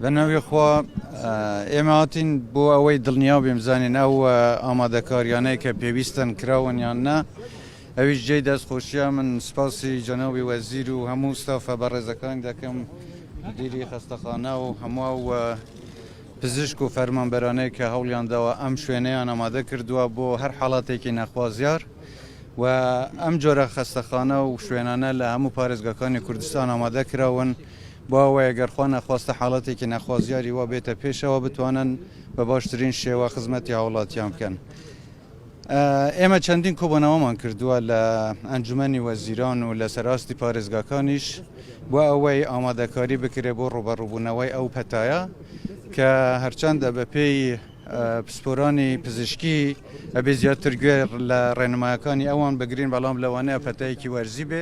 بە ناوی خوا ئێمە هاتین بۆ ئەوەی دڵنیا بێم زانین ئەو ئامادەکاریانەی کە پێویستن کراون یان نا ئەویش جێی دەست خۆشیە من سپاسی جەناوی وەزیر و هەموو ستافە بە ڕێزەکان دەکەم دیری خستەخانە و هەموو و پزیشک و فەرمانبەرانەیە کە هەوڵیان داوە ئەم شوێنەیان ئامادە کردووە بۆ هەر حاڵاتێکی نەخوازیار و ئەم جۆرە خستەخانە و شوێنانە لە هەموو پارێزگەکانی کوردستان ئامادە کراون. بۆ ئەوەی گەر خوا نەخواستە حاڵەتێکی ناخوازیاری وا بێتە پێشەوە بتوانن بە باشترین شێوە خزمەتی هاوڵاتیان بکەن. ئێمە چەندین کۆبوونەوەمان کردووە لە ئەنجومەنی وەزیران و لەسەر ئاستی پارێزگاکانیش بۆ ئەوەی ئامادەکاری بکرێ بۆ ڕوبەڕوبوونەوەی ئەو پەتایە کە هەرچەندە بەپێی پسپۆرانی پزیشکی ئەبێ زیاتر گوێ لە ڕێنمایەکانی ئەوان بگرین بەڵام لەوانەیە پەتایەکی وەرزی بێ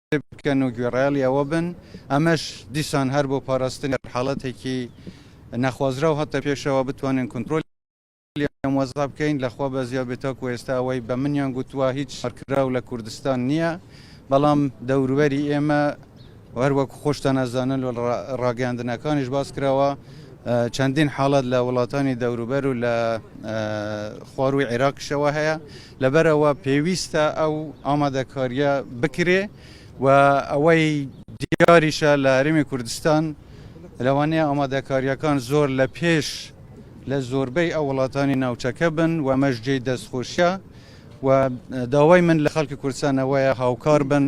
بکەن و گوێڕایەڵی ئەوە بن، ئەمەش دیسان هەر بۆ پاراستنی هەر حاڵەتێکی نەخوازراو هاتە پێشەوە، بتوانین کونترۆلی ئەم وەزعە بکەین، لە خوا بەزیا بێت تاکو ئێستا ئەوەی بە منیان گوتووە هیچ ساڕکراو لە کوردستان نییە، بەڵام دەوروبەری ئێمە هەر وەکو خۆشتان ئەزانن و لە ڕاگەیاندنەکانیش باس کراوە چەندین حاڵەت لە وڵاتانی دەوروبەر و لە خوارووی عێراقیشەوە هەیە. لەبەرئەوە پێویستە ئەو ئامادەکارییە بکرێ و ئەوەی دیاریشە لە هەرێمی کوردستان لەوانەیە ئامادەکارییەکان زۆر لە پێش لە زۆربەی ئەو وڵاتانی ناوچەکە بن و مەش جێی دەستخۆشیە و داوای من لە خەڵکی کوردستانەوەیە هاوکار بن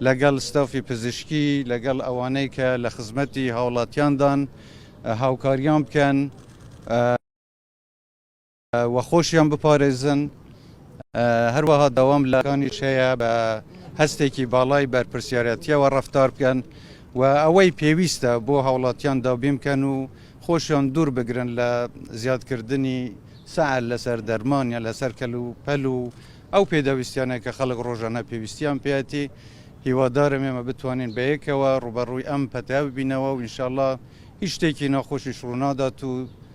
لەگەڵ ستافی پزیشکی لەگەڵ ئەوانەی کە لە خزمەتی هاوڵاتیاندان هاوکاریان بکەن و خۆشیان بپارێزن، هەروەها داوام لە کانیش هەیە بە هەستێکی باڵای بەرپرسیارەتیەوە ڕەفتار بکەن و ئەوەی پێویستە بۆ هاوڵاتیان دابین بکەن و خۆشیان دوور بگرن لە زیادکردنی سەعر لەسەر دەرمان یان لەسەر کەل و پەل و ئەو پێداویستیانە کە خەڵک ڕۆژانە پێویستیان پێیەتی هیوادارم ئێمە بتوانین بەیەکەوە ڕوبەڕووی ئەم پەتایە ببینەوە و ئینشاڵڵا هیچ شتێکی ناخۆشیش ڕوونادات و